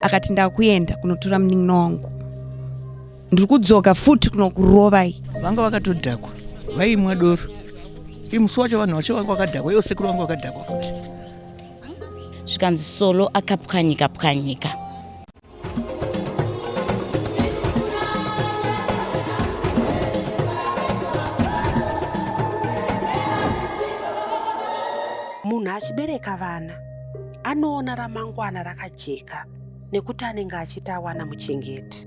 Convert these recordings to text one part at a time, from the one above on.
akati ndakuenda kunotora munin'ina wangu ndiri kudzoka futi kunokurovai vanga vakatodhakwa vaimwa doro imusi wacho vanhu vacho vanga vakadhakwa iwo sekuru vanga vakadhakwa futi zvikanzi solo akapwanyika pwanyika munhu achibereka vana anoona ramangwana rakajeka nekuti anenge achiti awana muchengeti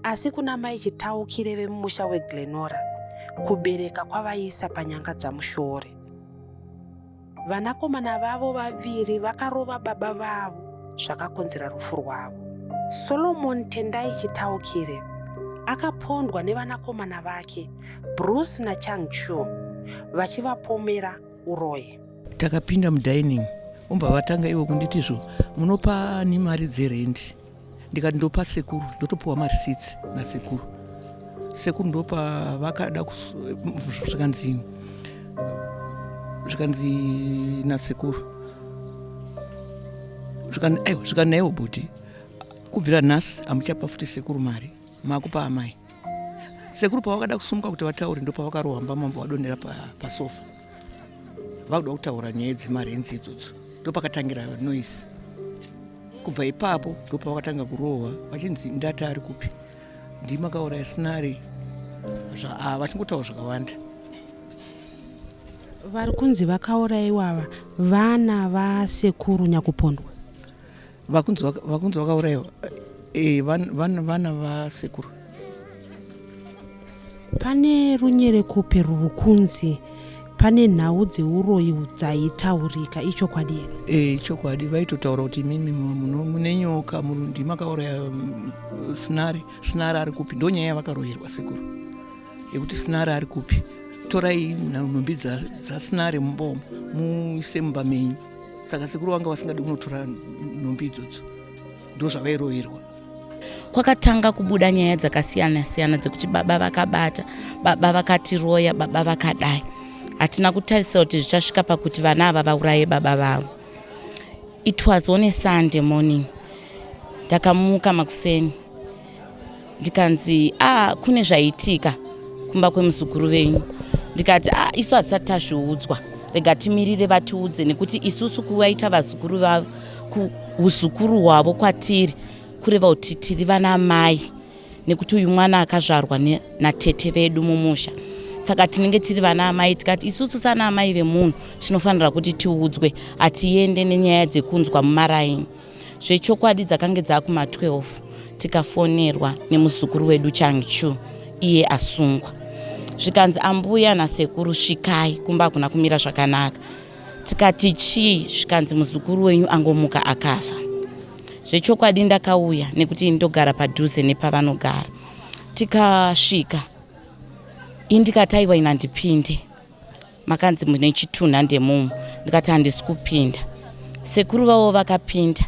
asi kuna mai chitaukire vemumusha weglenora kubereka kwavaiisa panyanga dzamushore vanakomana vavo vaviri vakarova baba vavo zvakakonzera rufu rwavo solomon tendai chitaukire akapondwa nevanakomana vake bruce nachangchu vachivapomera uroyi takapinda mudining ombva vatanga ivo kunditi zvo munopa ni mari dzerendi ndikati ndopa sekuru ndotopiwa mari sits nasekuru sekuru ndopa vakada zvikanzi zvikanzi nasekuru zvikanaiwa zvikanaiwa bhuti kubvira nhasi hamuchapa futi sekuru mari makupa amai sekuru pavakada kusumuka kuti vataure ndopavakarohwa mbamambo vadonera pasofa pa vakuda kutaura nyaya dzemarenzi idzodzo ndopakatangira noise kubva ipapo ndopavakatanga kurohwa vachinzi ndati ari kupi ndimakauraya sinari ah, vachingotaura zvakawanda vari kunzi vakauraiwa ava vana vasekuru nyakupondwa vakunzi vakaurayiwa eh, vana vasekuru pane runyerekope ruri kunzi pane nhau dzeuroyi dzaitaurika ichokwadi here e, ichokwadi vaitotaura kuti imimi mune nyoka murundi makauraya mm, sinari sinari ari kupi ndo nyaya yavakaroyerwa sekuru yekuti sinari ari kupi torai nhumbi dzasinari mubomo muise mumba menyu saka sekuru vanga vasingadi kunotora nhumbi idzodzo ndo zvavairoverwa kwakatanga kubuda nyaya dzakasiyana siyana dzekuti baba vakabata baba vakatiroya baba vakadai hatina kutarisa kuti zvichasvika pakuti vana ava vauraye baba vavo it was on a sunday morning ndakamuka makuseni ndikanzi ah kune zvaitika kumba kwemuzukuru venyu ndikati ah isu hatisati tazviudzwa rega timirire vatiudze nekuti isusu kuvaita vazukuru vavo kuuzukuru hwavo kwatiri kureva kuti tiri vana mai nekuti uyu mwana akazvarwa natete vedu mumusha saka tinenge tiri vana amai tikati isusu sana amai vemunhu tinofanira kuti tiudzwe hatiende nenyaya dzekunzwa mumaraini zvechokwadi dzakange dzakuma 12 tikafonerwa nemuzukuru wedu changchu iye asungwa zvikanzi ambuya nasekuru svikai kumba hakuna kumira zvakanaka tikati chii zvikanzi muzukuru wenyu angomuka akafa zvechokwadi ndakauya nekuti ndogara padhuze nepavanogara tikasvika indikataiwa inandipinde makanzi mune chitunha ndemumu ndikati handisi kupinda sekuru vavo vakapinda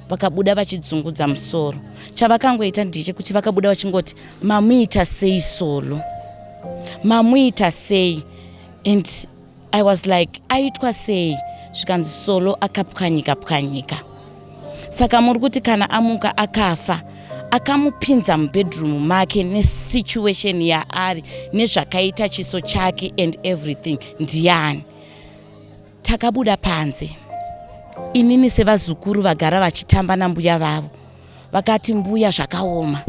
vakabuda vachidzungudza musoro chavakangoita ndechekuti vakabuda vachingoti mamuita sei solo mamuita sei and i was like aitwa sei zvikanzi solo akapwanyika pwanyika saka muri kuti kana amuka akafa akamupinza mubedroom make nesituation yaari nezvakaita chiso chake and everything ndiani takabuda panze inini sevazukuru vagara vachitamba nambuya vavo vakati mbuya zvakaoma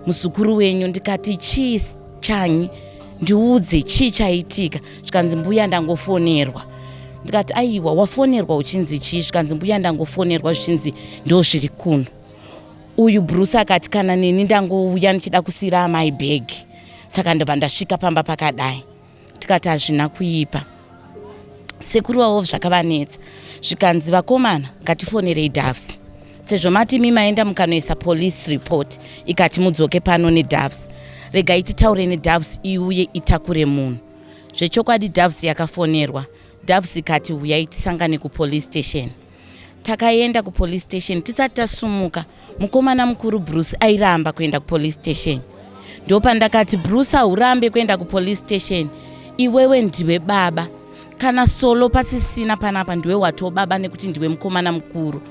muzukuru wenyu ndikati chii chanyi ndiudze chii chaitika zvikanzi mbuya ndangofonerwa ndikati aiwa wafonerwa uchinzi chii zvikanzi mbuya ndangofonerwa zvichinzi ndo zviri kuno uyu bruce akati kana neni ndangouya ndichida kusiyira amai bhegi saka ndobva ndasvika pamba pakadai tikati hazvina kuipa sekuru wavo zvakavanetsa zvikanzi vakomana ngatifonerei davs sezvo mati imi maenda mukanoisa police report ikati mudzoke pano nedoves regai titaure nedoves iuye itakure munhu zvechokwadi doves yakafonerwa doves ikati huyai tisangane kupolice station takaenda kupolice station tisati tasumuka mukomana mukuru bruce airamba kuenda kupolice station ndopandakati bruce haurambe kuenda kupolice station iwewe ndiwe baba kana solo pasisina panapa ndiwe watiwo baba nekuti ndiwe mukomana mukuru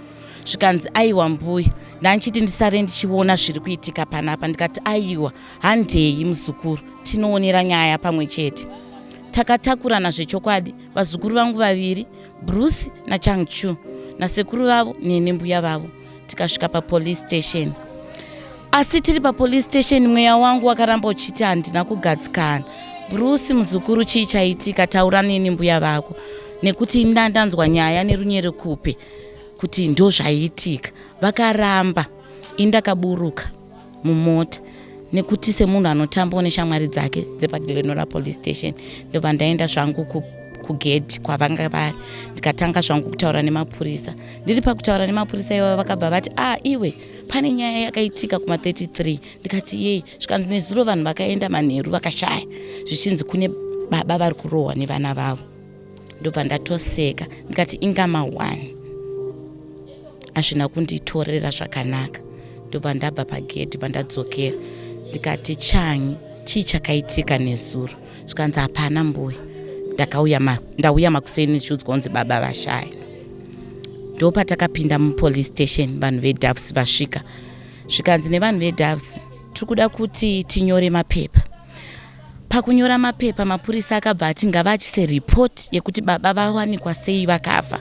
zvikanzi aiwa mbuya ndandichiti ndisare ndichiona zviri kuitika panapa ndikati aiwa handei muzukuru tinoonera nyaya pamwe chete takatakurana zvechokwadi vazukuru vangu vaviri bruce nachangchu nasekuru vavo nene mbuya vavo tikasvika papolice station asi tiri papolice station mweya wangu wakaramba uchiti handina kugadzikana bruce muzukuru chii chaitika taura neni mbuya vako nekuti inda ndanzwa nyaya nerunyere kupi kuti ndozvaiitika vakaramba indakaburuka mumota nekuti semunhu anotambawo neshamwari dzake dzepagilenora police station ndobva ndaenda zvangu kugedhi kwavanga vari ndikatanga zvangu kutaura nemapurisa ndiri pakutaura nemapurisa iwavo vakabva vati a ah, iwe pane nyaya yakaitika kuma 33 ndikati yei zvikanzi nezuro vanhu vakaenda manheru vakashaya zvichinzi kune baba vari kurohwa nevana vavo ndobva ndatoseka ndikati inga mawani hazvina kunditorera zvakanaka ndobva ndabva pagedhi bva ndadzokera ndikati chanyi chii chakaitika nezuro zvikanzi hapana mbuya ndauya makuseni ndichiudzwa kunzi baba vashaya ndopatakapinda mupolice station vanhu vedavs vasvika zvikanzi nevanhu vedavs tiri kuda kuti tinyore mapepa Pakunyora mapepa, mapurisa akabva ati ngavaachise report yekuti baba vawanikwa sei vakafa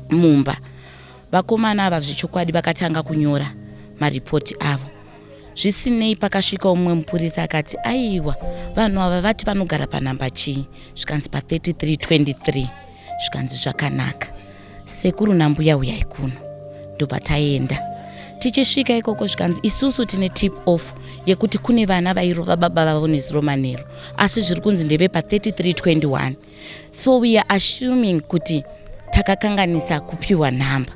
mumba. Vakomana ava zvechokwadi vakatanga kunyora maripoti avo. Zvisinei pakasvika umwe mupurisa akati aiwa vanhu ava vati vanogara panhamba chii zvikanzi pa 3323 zvikanzi zvakanaka. sekuru nambuya uyai kuno ndobva taenda tichisvika ikoko zvikanzi isusu tine tip off yekuti kune vana vairova baba vavo nezuro manheru asi zviri kunzi ndeve pa 3321 so we are assuming kuti takakanganisa kupiwa nhamba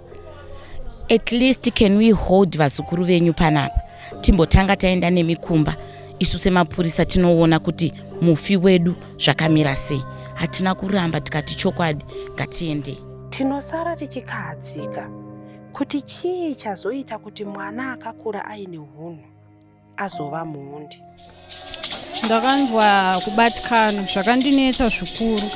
at least can we hold vazukuru venyu panapa timbotanga taenda nemikumba isu semapurisa tinoona kuti mufi wedu zvakamira sei hatina kuramba tikati chokwadi ngatiendei tinosara tichikahadzika kuti chii chazoita kuti mwana akakura aine hunhu azova muhundi ndakanzwa kubatikana zvakandinetsa zvikuru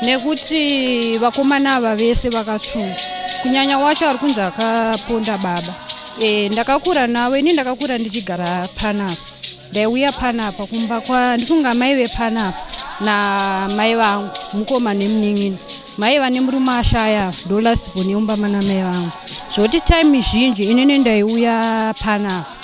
nekuti vakomana ava vese vakatsvunga kunyanya wacho ari kunzi akaponda baba e, ndakakura navo ini ndakakura ndichigara panapa ndaiuya panapa kumba kwa ndifunga amai vepanapa namai vangu mukoma nemunin'ina mai vane murume ashaya ndo last born yeumba mana mai vangu zvoti time zhinji inini ndaiuya panapa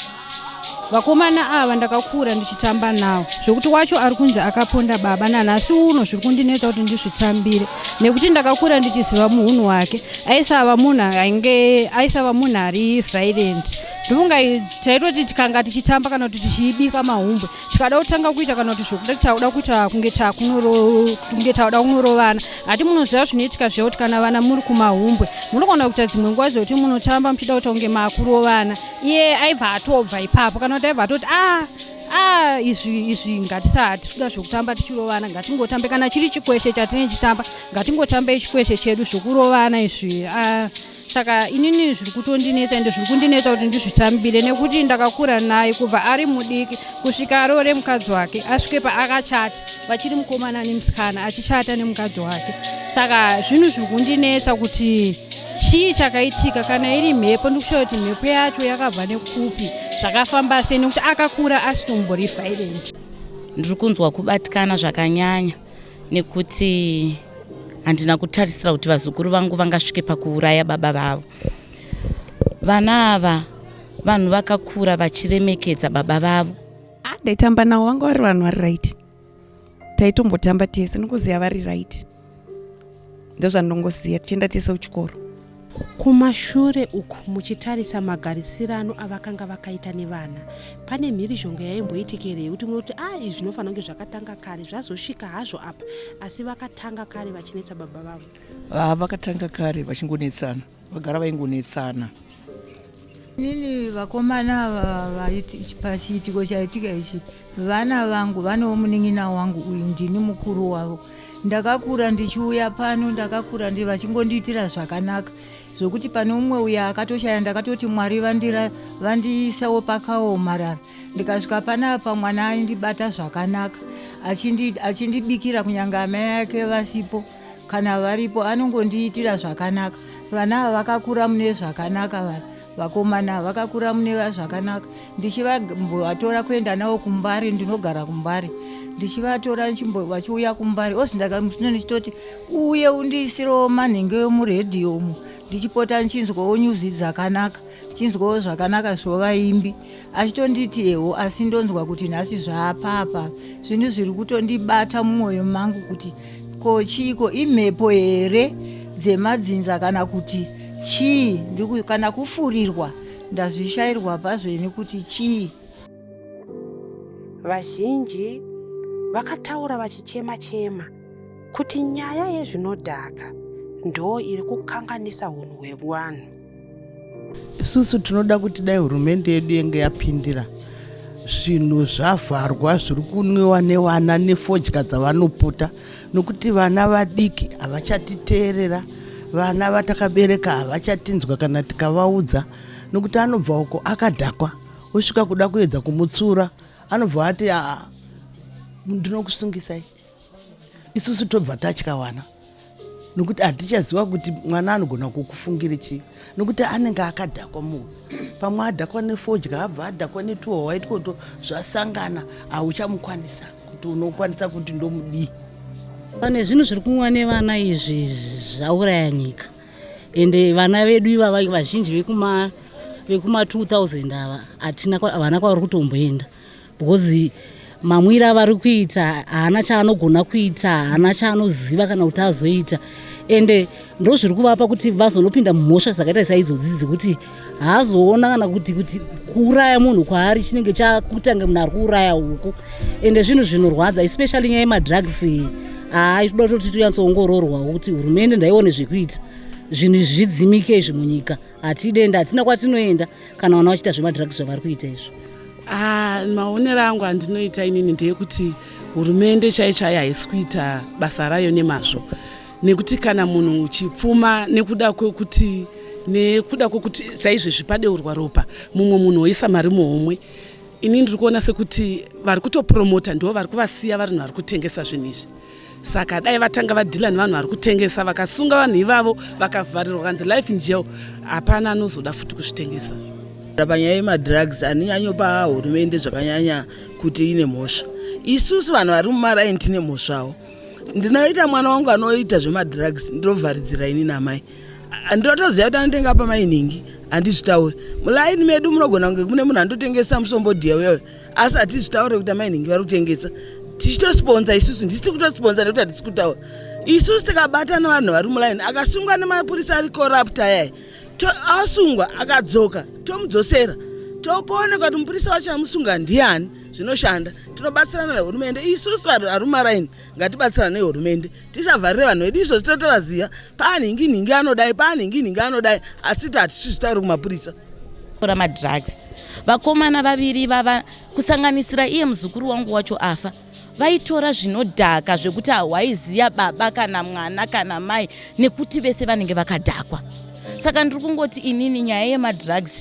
vakomana ava ndakakura ndichitamba nawo zvekuti wacho ari kunzi akaponda baba nanhasi uno zviri kundinetsa kuti ndizvitambire nekuti ndakakura ndichiziva muhunhu wake aisava munhu ainge aisava munhu ari violent Dhunga idzi taitoti tikanga tichitamba kana kuti tichiibika mahumbwe tikada kutanga kuita kana kuti zvokuda tauda kuita kunge takunge tauda kunorovana hati munoziva zvinoitika zviya kuti kana vana muri kumahumbwe munogona kuita dzimwe nguva dzekuti munotamba muchida kuita kunge makurovana iye aibva atobva ipapo kana kuti aibva atoti a ah, a ah, izvi izvi ngatisahati tikuda zvekutamba tichirovana ngatingotambe kana chiri chikweshe chatinechitamba ngatingotambe chikweshe chedu zvekurovana izvi a ah, saka inini zviri kutondinetsa ende zviri kundinetsa kuti ndizvitambire nekuti ndakakura naye kubva ari mudiki kusvika aroore mukadzi wake asvike paakachata vachiri mukomana nemusikana achichata nemukadzi wake saka zvinhu zviri kundinetsa kuti chii chakaitika kana iri mhepo ndikushaura kuti mhepo yacho yakabva nekupi zvakafamba sei nekuti akakura asitombori violent ndiri kunzwa kubatikana zvakanyanya nekuti handina kutarisira kuti vazukuru vangu vangasvike pakuuraya baba vavo vana ava vanhu vakakura vachiremekedza baba vavo ah, ndaitamba navo vanga vari vanhu vari right taitombotamba tese nokuziva vari right ndozvandongoziva tichienda tese kuchikoro kumashure uku muchitarisa magarisirano avakanga vakaita nevana pane mhirizhonga yaimboitika here yekuti munoti a ah, izvi zvinofanira kunge zvakatanga kare zvazosvika hazvo apa asi vakatanga kare vachinetsa baba vavo ah, vakatanga kare vachingonetsana vagara vaingonetsana Nini vakomana pachiitiko chaitika ichi vana vangu vanewo munin'ina wangu uyu ndini mukuru wavo ndakakura ndichiuya pano ndakakura ndi vachingondiitira zvakanaka zvokuti pane umwe uya akatoshaya ndakatoti mwari vandira vandiisawo pakaomarara ndikasvika panapa mwana aindibata zvakanaka achindibikira kunyange amai ake vasipo kana varipo anongondiitira zvakanaka vana ava vakakura mune zvakanaka vana vakomana vakakura mune zvakanaka ndichivatora kuenda navo kumbari ndinogara kumbari ndichivatora vachiuya kumbari ozi ndakamusino ndichitoti uye undiisirewo manhenge emuredhiyo umu ndichipota ndichinzwawo nyuzi dzakanaka ndichinzwawo zvakanaka zvovaimbi achitonditi eho asi ndonzwa kuti nhasi zvaapapa zvinhu zviri kutondibata mumwoyo mangu kuti ko chiiko imhepo here dzemadzinza kana kuti chii kana kufurirwa ndazvishairwa pazveni kuti chii vazhinji vakataura vachichema chema kuti nyaya yezvinodhaka ndo iri kukanganisa unhu hwevanhu isusu tinoda kuti dai hurumende yedu yenge yapindira zvinhu zvavharwa zviri kunwiwa nevana nefodya dzavanopota nokuti vana vadiki havachatiteerera vana vatakabereka havachatinzwa kana tikavaudza nokuti anobva uko akadhakwa osvika kuda kuedza kumutsura anobva ati aa ndinokusungisai isusu tobva tatyawana nokuti hatichaziva kuti mwana anogona kukufungira chii nokuti anenge akadhakwa munhu pamwe adhakwa nefodya abva adhakwa netuho waitwoto zvasangana hauchamukwanisa kuti unokwanisa kuti ndomudii pane zvinhu zviri kunwa nevana izvi zvauraya nyika ende vana vedu ivava vazhinji vekuma vekuma 2000 ava hatina havana kwavari kutomboenda because mamwiro avari kuita haana chaanogona kuita haana chaanoziva kana kuti azoita ende ndo zviri kuvapa kuti vazonopinda mumhosva dzakaita saidzodzi dzekuti haazoona kana kuti kuti kuuraya munhu kwaari chinenge chakutanga munhu ari kuuraya huku ende zvinhu zvinorwadza especially nyaya yemadrugs iyi haa itoda kutoti tonyatsoongororwa kuti hurumende ndaione zvekuita zvinhu zvidzimike izvi munyika hatide ende hatina kwatinoenda kana vana vachiita zvemadrugs zvavari kuita izvo ah, maonero angu andinoita inini ndeyekuti hurumende chaicho ayi haisi kuita basa rayo nemazvo nekuti kana munhu uchipfuma nekuda kwekuti nekuda kwekuti saizvezvi padeurwa ropa mumwe munhu oisa mari muhomwe ini ndiri kuona sekuti vari kutopromota ndo vari kuvasiya varinhu vari kutengesa zvinhu izvi saka dai vatanga vadhila nevanhu vari kutengesa vakasunga vanhu ivavo vakavharirwa kanzi life in jail hapana anozoda futi kuzvitengesa panyaya yemadrugs anonyanyopa hurumende zvakanyanya kuti ine mhosva isusu vanhu vari mumaraini tine mhosvawo ndinoita mwana wangu anoita zvemadrugs ndinovharidzira ini namai ndotoziva kuti anotenga pamainhingi handizvitauri mulaini medu munogona kunge mune munhu anototengesa musombodhiya uyoyo asi hatizvitaure kuti amai nhingi vari kutengesa tichitosponza isusu ndisi tiri kutosponza nekuti hatisi kutaura isusu tikabatana vanhu vari mulaini akasungwa nemapurisa ari korapta yaya asungwa akadzoka tomudzosera topoonekwa kuti mupurisa wacho amusunga ndiani zvinoshanda tinobatsirana nehurumende isusu varume raini ngatibatsira nehurumende tisavharire vanhu vedu izvo zvitotovaziva paanhingi nhingi anodai paanhingi nhingi anodai asi ti hatisizvitauri kumapurisa tora madrugs vakomana vaviri vava kusanganisira iye muzukuru wangu wacho afa vaitora zvinodhaka zvekuti hawaiziva baba kana mwana kana mai nekuti vese vanenge vakadhakwa saka ndiri kungoti inini nyaya yemadrugs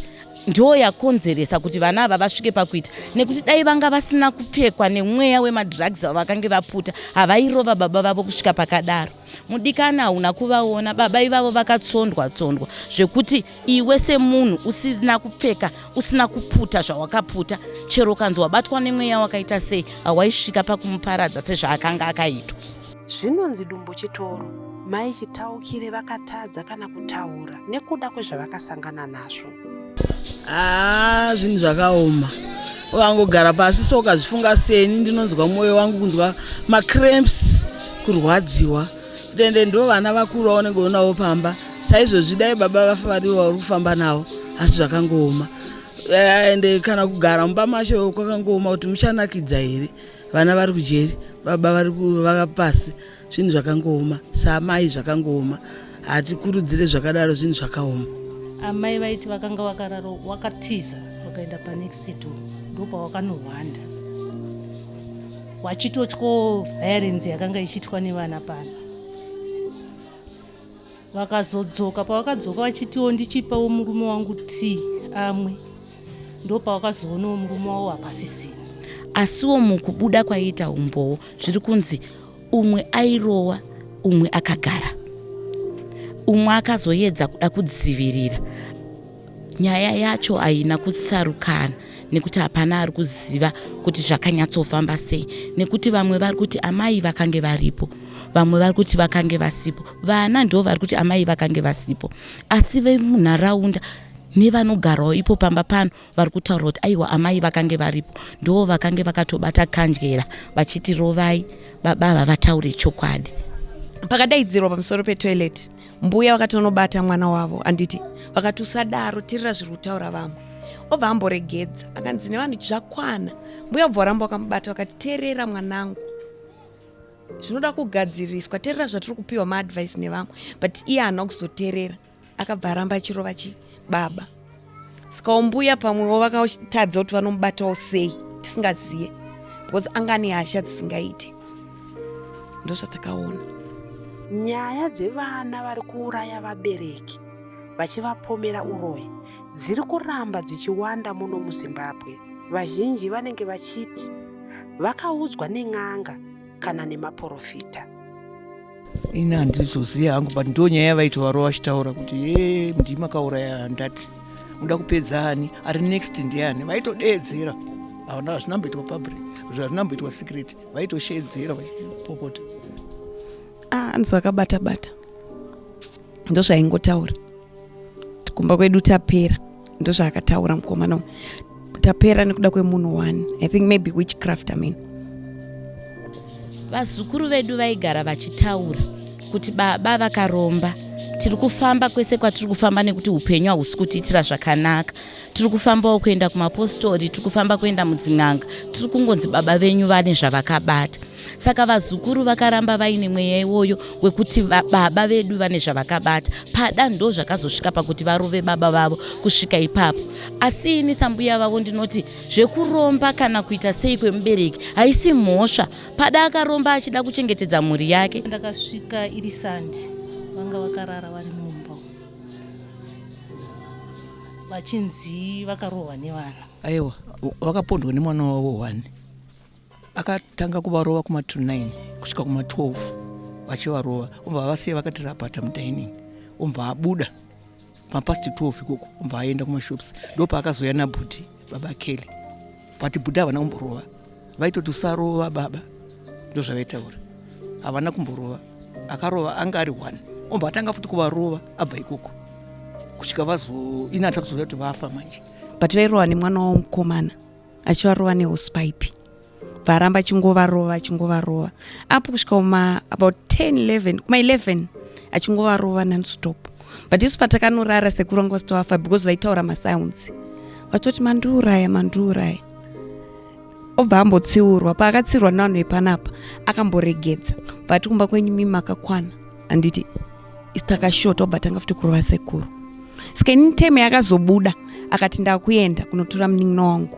ndiyo yakonzeresa kuti vana ava vasvike pakuita nekuti dai vanga vasina kupfekwa nemweya wemadrugs avakange vaputa havairova baba vavo kusvika pakadaro mudikani hauna kuvaona baba ivavo vakatsondwa tsondwa zvekuti iwe semunhu usina kupfeka usina kuputa zvawakaputa chero kanzi wabatwa nemweya wakaita sei hawaisvika pakumuparadza sezvaakanga akaitwa Zvinonzi dumbu chitoro. Mai Chitaukire vakatadza kana kutaura nekuda kwezvavakasangana nazvo. Haa ah, zvinhu zvakaoma wangogara pasi so ukazvifunga seni ndinonzwa mwoyo wangu kunzwa macramps kurwadziwa tende ndo vana vakuru vaunenge unavo pamba saizvozvi dai baba vafa varivo vauri kufamba navo asi zvakangooma eh, ende kana kugara mumba macho kwakangooma kuti muchanakidza here vana vari kujeri baba vari kuvaka pasi zvinhu zvakangooma saamai zvakangooma hatikurudzire zvakadaro zvinhu zvakaoma amai vaiti vakanga vakararo wakatiza wakaenda panext do ndopawakanohwanda wachitotyo violence yakanga ichiitwa nevana pano vakazodzoka pavakadzoka vachitiwo ndichipawo murume wangu tii amwe ndo pavakazoonawo murume wavo hapasisina asiwo mukubuda kwaiita umbowo zviri kunzi umwe airowa umwe akagara umwe akazoyedza kuda kudzivirira Nyaya yacho haina kutsarukana nekuti hapana ari kuziva kuti zvakanyatsofamba sei nekuti vamwe vari kuti amai vakange varipo vamwe vari kuti vakange vasipo vana ndo vari kuti amai vakange vasipo asi vemunharaunda nevanogarawo ipo pamba pano vari kutaura kuti aiwa amai vakange varipo ndo vakange vakatobata kandyera vachiti rovai baba ava vataure chokwadi pakadaidzirwa pamusoro petoilet mbuya vakatonobata mwana wavo handiti vakati usadaro terera zviri kutaura vamwe obva amboregedza akanzi nevanhu zvakwana mbuya bva varamba vakamubata vakati terera mwanangu zvinoda kugadziriswa terera zvatiri kupiwa maadvice nevamwe but iye haana kuzoterera akabva aramba achirova chi baba sikaumbuya pamwewo vakatadza kuti vanomubatawo sei tisingaziye because anga ane hasha dzisingaite ndozvatakaona nyaya dzevana vari kuuraya vabereki vachivapomera uroyi dziri kuramba dzichiwanda muno muzimbabwe vazhinji vanenge vachiti vakaudzwa nen'anga kana nemaporofita ini handizoziva hangu but ndo nyaya yavaitovarova vachitaura kuti e ndii makauraya handati unoda kupedza ani ari next ndiani vaitodeedzera havana hazvina mboitwa public zvazvina mboitwa secret vaitosheedzera vachipopota ah, anzi vakabata bata ndozvaingotaura kumba kwedu tapera ndozvaakataura mukomana uyu tapera nekuda kwemunhu one i think maybe witchcraft amin vazukuru vedu vaigara vachitaura kuti baba vakaromba tiri kufamba kwese kwatiri kufamba nekuti upenyu hahusi kutiitira zvakanaka tiri kufambawo kuenda kumapostori tiri kufamba kuenda mudzin'anga tiri kungonzi baba venyu vane zvavakabata saka vazukuru vakaramba vaine mweya iwoyo wekuti baba vedu vane zvavakabata pada ndo zvakazosvika pakuti varove baba vavo kusvika ipapo asi ini sambuya vavo ndinoti zvekuromba kana kuita sei kwemubereki haisi mhosva pada akaromba achida kuchengetedza mhuri yake ndakasvika iri sandi vanga vakarara vari mumba vachinzi vakarohwa nevana aiwa vakapondwa nemwana wavo one akatanga kuvarova kuma 29 kusvika kuma 12 vachivarova umva vasiya vakati rapata mudining umva abuda mapast 12 ikoko umva aenda kumashops ndopaakazoya nabhuti baba kelly but buda havana kumborova vaitoti usarova baba ndozvavaitaura havana kumborova akarova anga ari one omba atanga futi kuvarova abva ikoko kusvika vazo ini atisa kuzoya kuti vafa manje but vairova nemwana wavo mukomana achivarova neuspaipi varamba achingovarova achingovarova apo kusvika uma about 10 11 kuma 11 achingovarova nonstop but isu patakanorara sekuru vanga vasitovafa because vaitaura masounds vatoti mandiuraya mandiuraya obva ambotsiurwa paakatsiurwa nevanhu vepanapa akamboregedza vati kumba kwenyu mimi makakwana handiti isu takashota obva tanga futi kurova sekuru ska ini time yakazobuda akati ndakuenda kunotora munin'ina wangu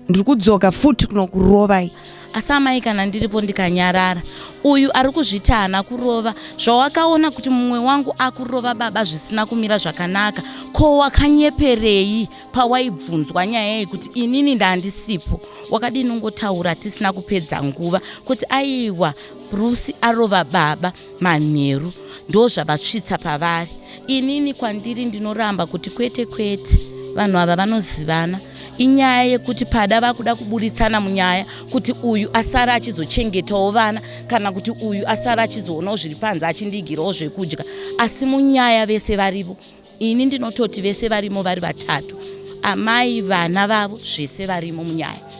ndiri kudzoka futi kunokurovai asi amai kana ndiripo ndikanyarara uyu ari kuzviti haana kurova zvawakaona kuti mumwe wangu akurova baba zvisina kumira zvakanaka ko wakanyeperei pawaibvunzwa nyaya yei kuti inini ndandisipo wakadini ungotaura tisina kupedza nguva kuti aiwa brusi arova baba manheru ndozvavasvitsa pavari inini kwandiri ndinoramba kuti kwete kwete vanhu ava vanozivana inyaya yekuti pada vakuda kuburitsana munyaya kuti uyu asara achizochengetawo vana kana kuti uyu asara achizoonawo zviri panze achindigirawo zvekudya asi munyaya vese varivo Ini ndinototi vese varimo vari vatatu, amai, vana vavo, zvese varimo munyaya.